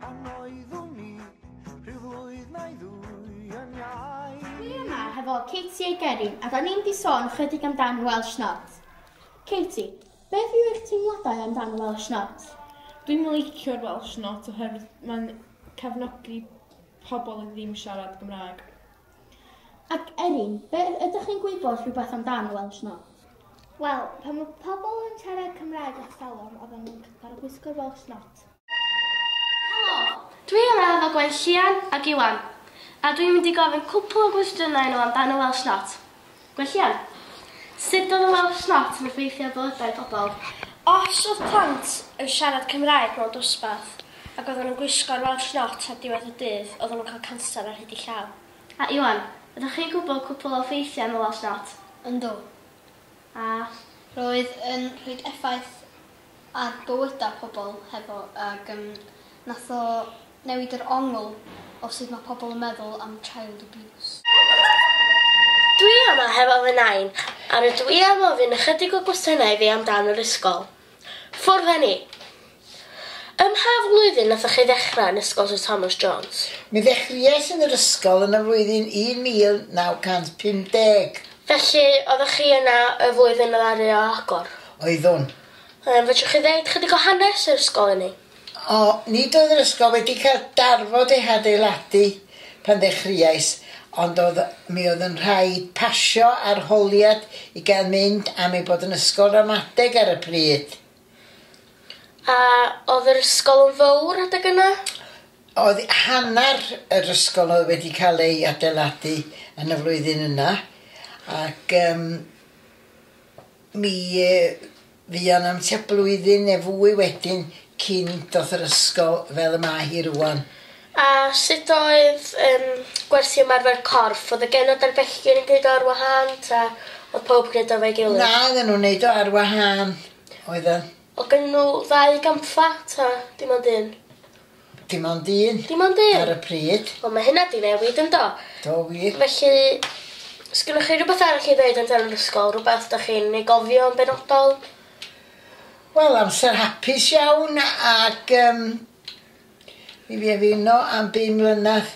Pan oeddwn i rhyw flwydd neu ddwy yn iau. Dwi yma hefo Katie a Geri a da ni'n di sôn chydig amdan Welsh Not. Katie, beth yw eich teimladau amdan Welsh Not? Dwi'n licio'r Welsh Not oherwydd mae'n cefnogi pobl oedd ddim siarad Gymraeg. Ac Erin, be' ydych chi'n gwybod rhywbeth amdan Welsh No? Wel, pan mae pobl yn siarad Cymraeg ers talwm, oedden nhw'n gorfod gwisgo'r Welsh Not. Helo! Dwi yma efo Gwen Llian ac Iwan, a dwi'n mynd i gofyn cwpl o gwestiynau i nhw amdan y Welsh Not. Gwellian. Sut oedd y Welsh Not yn effeithio ar bywydau pobl? Os oedd plant yn siarad Cymraeg mewn dosbarth ac oedden nhw'n gwisgo'r Welsh Not ar diwedd y dydd oedden nhw'n cael canser ar hyd eu llaw. A Iwan, ydych chi'n gwybod cwpl o effeithiau am y Welsh Not? Yndw. A. Roedd yn rhoi effaith ar bywydau pobl hefo ag yym nath o newid yr ongl o sud ma' pobl yn meddwl am child abuse. Dwi yma hefo fy nain a rydw i am ofyn ychydig o gwestiynau iddi am dan yr ysgol. Ffwrdd a ni! Ym mha flwyddyn nathoch chi ddechrau yn ysgol Sir Thomas Jones? Mi ddechreuais yn yr ysgol yn y flwyddyn 1950. Felly, oeddech chi yna y flwyddyn ddaru o agor? oeddwn. Yym, fedrwch chi ddeud chydig o hanes yr ysgol i ni? O, nid oedd yr ysgol wedi cael darfod ei hadeiladu pan ddechreuais, ond oedd, mi oedd yn rhaid pasio arholiad i gael mynd am ei bod yn ysgol ramadeg ar y pryd. A oedd yr ysgol yn fawr adeg yna? Oedd hanner yr ysgol oedd wedi cael ei adeiladu yn y flwyddyn yna, ac um, Mi fuon am tua blwyddyn neu fwy wedyn cyn doth yr ysgol fel y mae hi rŵan. A sut oedd yym gwersi ymarfer corff? Oedd y genod a'r bechgyn yn gneud o ar wahân ta oedd pawb yn gneud o efo'i gilydd? Na oedden nhw'n neud o ar wahân oedden. Oedd gennyn nhw ddau gampfa ta dim ond un? Dim ond un. Dim ond un? Ar y pryd. Wel mae hynna di newid yndo? Do wir. Felly, sgynnoch chi rhywbeth arall i ddeud yn yr ysgol? Rhywbeth da chi'n ei gofio yn benodol? Wel, amser hapus iawn ac um, mi fi efino am bum mlynedd.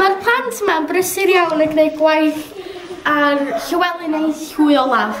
Mae'r plant mae'n brysur iawn yn gwneud gwaith ar Llywelyn ei hwy olaf.